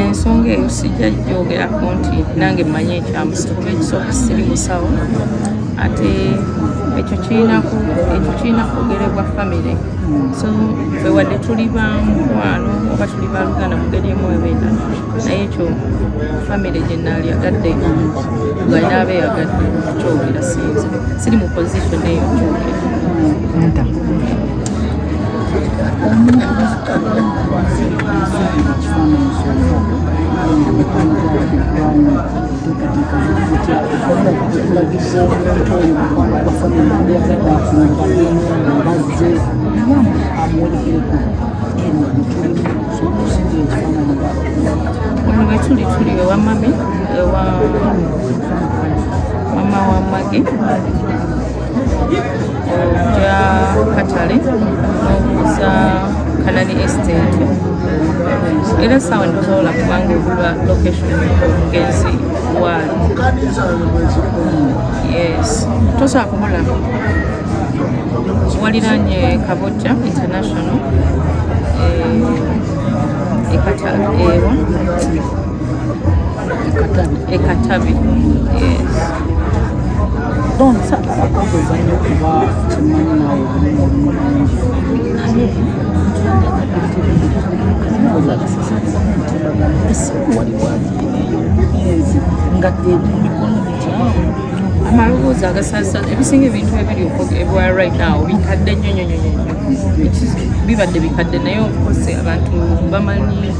ensonga eyo sijja gyogerako nti nange mmanyi ekyamusa kuba ekisooka siri musawo ate ekyo kirina kwogerebwa famire so fe wadde tuli bamukwano oba tuli baluganda mugeri emu ebenda naye ekyo famire gyenaali agadde galina abe yagadde kyogera sinze siri mu position eyo kyogera Wano wetuli tuli ewa mami ewa mama wa mage ya katale okuza kanani estate era sawa ndozola kubanga ogulwa location omugenzi waali yes tosobola kumulaba waliranye kabojja international eh, ekatale ewa ekatabi nga amaloboozi agasalisa ebisinga ebintu ebiri ebwa right now bikadde nnyo nnyo nnyo bibadde bikadde naye okose abantu bamanyi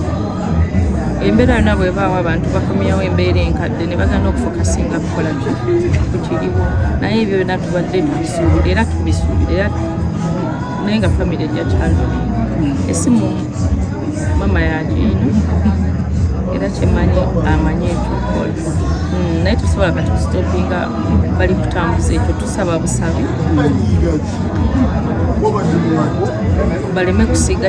embeera yona bwebaawo abantu bakomyawo embeera enkadde ne bagana okufokasinga kukola ku kiriwo naye ebyo byona tubadde tubisuubira era tubisuubira era naye nga famiry ejja kyalo esimu mama yagiina era kyemanyi amanyi ekyokola hmm, naye tusobola kati kusitopinga bali kutambuza ekyo tusaba busabi baleme kusiga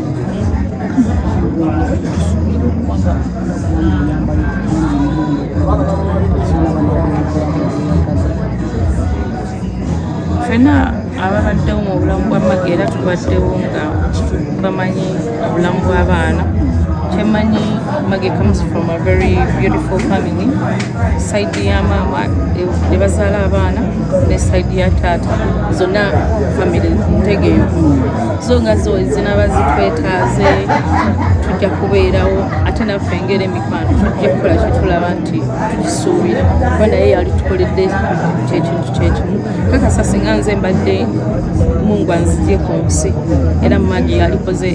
fena ababaddewo mu bulamu bwa magi era tubaddewo nga bamanyi obulamu bw'abaana kyemanyi magi comes from a very beautiful family side ya maama ebazaala abaana ne side ya taata zonna family ntegeeyo zo nga zo zinaba zitwetaaze tujja kubeerawo ate naffe engeri emikwano tujja kukola kyetulaba nti tukisuubira kuba naye yali tukoledde kyekintu kyekimu kakasa singa nze mbadde mungu anzije ku nsi era mumagi yalikoze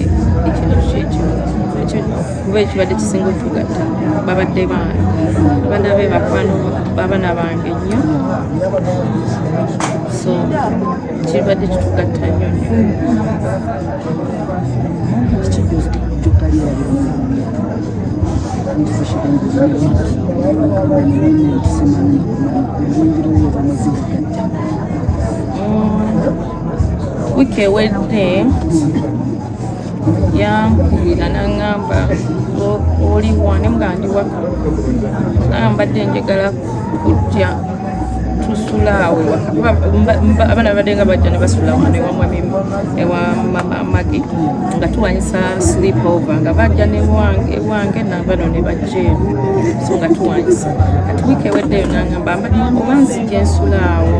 ekintu kyekimu kuba ekibadde kisinga otugatta babadde baana abaana be bakwano babana bange nnyo so kiribadde kitugatta nnyo wiiki ewedde yankubira nangamba oliwa nemugandi waka nambadde njagala kujja tusulaawo abaana babadde nga bajja ne basula wano ewamwamimu ewa magi nga tuwanyisa sleep over nga bajja ewange nabano ne bajja eno so nga tuwanyisa kati wiiki eweddeyo nangamba oba nzija ensulaawo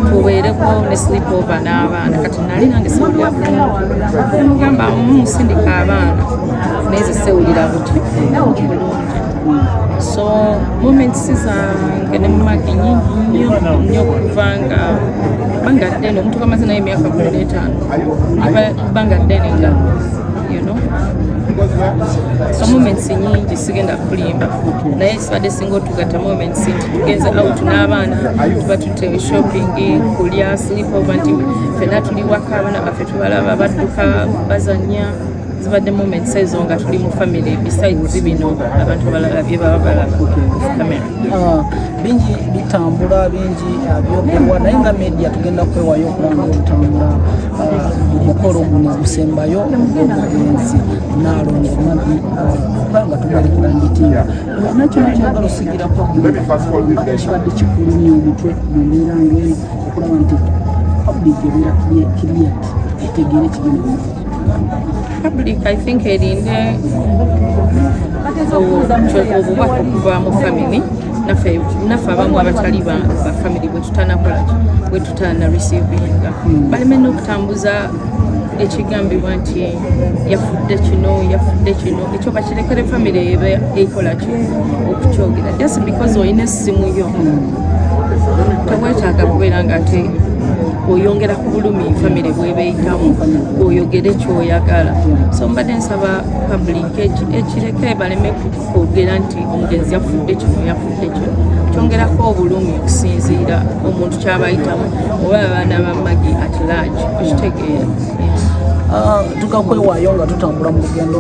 tubeereko ne sleep over n'abaana kati nali nange siwulira gamba musindika abaana naye zisewulira buti so moments zange ne mumage nyingi nnyo nnyo okuva nga banga ddene omuntu kamaze naye emyaka kumi n'etaano banga ddene nga you know so moments nyingi sigenda kulimba naye sibadde singa otugatta moments nti tugenze out n'abaana tuba tutte shopping kulya sleep over nti fena tuli waka abaana baffe tubalaba badduka bazanya zibadde moments ezo nga tuli mu family besides bino abantu abalala bye baba balaba camera ah, bingi bitambula bingi ah, byogerwa naye nga media tugenda kwewayo okulanga tutambula ah, omukolo guno ogusembayo ogwomugenzi naalongo mabi kubanga tumalekera mbitimba olina kino kyagala osigirako kibadde kikulumya omutwe mu mbeera ngaeyo okulaba nti public ebeera kiriyati etegeera ekigenda Public I think erinde obubaka okuva mu family naffe naffe abamu abatali ba family bwetutanakola bwetutana receivinga hmm. baleme n'okutambuza ekigambibwa nti yafudde kino yafudde kino ekyo bakirekere famire eba ekolaki okukyogera just because olina essimu yo tewetaaga kubeera nga ate oyongera ku bulumi famire bwebeeyitamu oyogere kyoyagala so mbadde nsaba public ekireke baleme kwogera nti omugenzi yafudde kino yafudde kino kyongerako obulumi okusinziira omuntu kyabayitamu oba abaana ba magi at large okitegeera ah, tukakwewayo nga tutambula mu lugendo